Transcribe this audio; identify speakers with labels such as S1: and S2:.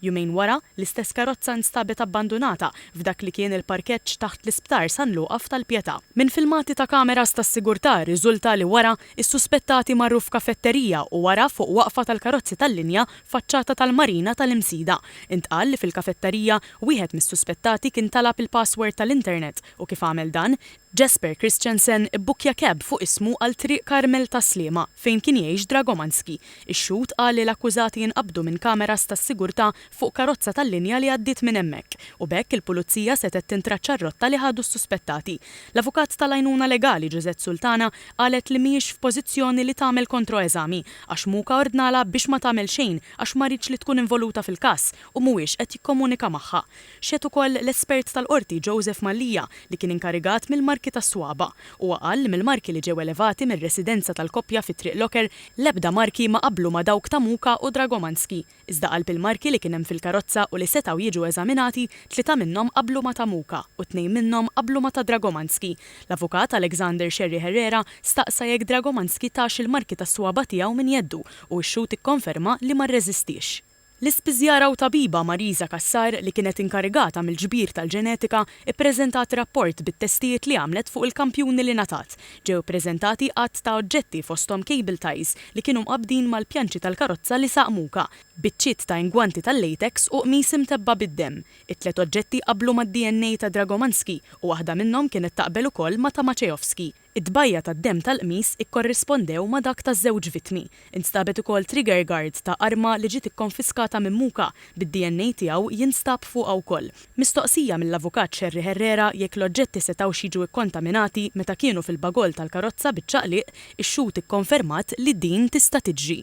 S1: Jumejn wara, l-istess karozza instabet abbandunata f'dak li kien il-parkeġġ taħt l-Isptar San Luqa f'Tal-Pietà. Minn filmati ta' kameras tas-sigurtà rriżulta li wara, is-suspettati marru f'kafetterija u wara fuq waqfa tal-karozzi tal-linja faċċata tal-Marina tal-Imsida. Intqal li fil-kafettarija, wieħed mis-suspettati kien talab il-password tal-internet u kif għamel dan, Jesper Christensen ibbukkja keb fuq ismu għal Triq Karmel ta' Sliema, fejn kien jgħix Dragomanski. Ix-xhud qal li l-akkużati inqabdu minn kameras tas-sigurtà fuq karozza tal-linja li għaddiet minn hemmhekk, u b'hekk il-pulizija setgħet tintraċċa r-rotta li ħadu s-suspettati. L-avukat tal-għajnuna legali Josette Sultana qalet li mhijiex f'pożizzjoni li tagħmel kontroeżami għax Muka ordnalha biex ma tagħmel xejn għax ma riedx li tkun involuta fil-każ u mhuwiex qed jikkomunika magħha. Xehed ukoll l-espert tal-Qorti Joseph Mallia li kien inkarigat mill-marki tas-swaba'. Huwa qal li mill-marki li ġew elevati mir-residenza tal-koppja fi Triq Locker l-ebda marki ma qablu ma' dawk ta' Muka u Dragomanski. Iżda qalb il-marki li kien hemm fil-karozza u li setgħu jiġu eżaminati, tlieta minnhom qablu ma' ta' Muka u tnejn minnhom qablu ma' ta' Dragomanski. L-avukat Alexander Scerri Herrera staqsa jekk Dragomanski tax il-marki tas-swaba' tiegħu minn jeddu u x-xhud ikkonferma li ma rreżistiex. L-ispiżjara u tabiba Marisa Cassar li kienet inkarigata mill-ġbir tal-ġenetika ppreżentat rapport bit-testijiet li għamlet fuq il-kampjuni li ngħatat. Ġew ippreżentati għadd ta' oġġetti fosthom cable ties li kienu mqabbdin mal-pjanċi tal-karozza li saq Muka, biċċiet ta' ingwanti tal-latex u qmis imtebba bid-demm. It-tliet oġġetti qablu mad-DNA ta' Dragomanski u waħda minnhom kienet taqbel ukoll ma' ta' Maceovski. It-tbajja' tad-demm tal-qmis ikkorrispondew ma' dak ta' żewġ vittmi. Instabet ukoll trigger guard ta' arma li ġiet ikkonfiskata minn Muka, bid-DNA tiegħu jinstab fuqha wkoll. Mistoqsija mill-Avukat Scerri Herrera jekk l-oġġetti setgħux jiġu ikkontaminati meta kienu fil-bagoll tal-karozza biċ-ċaqliq, ix-xhud ikkonfermat li din tista' tiġri.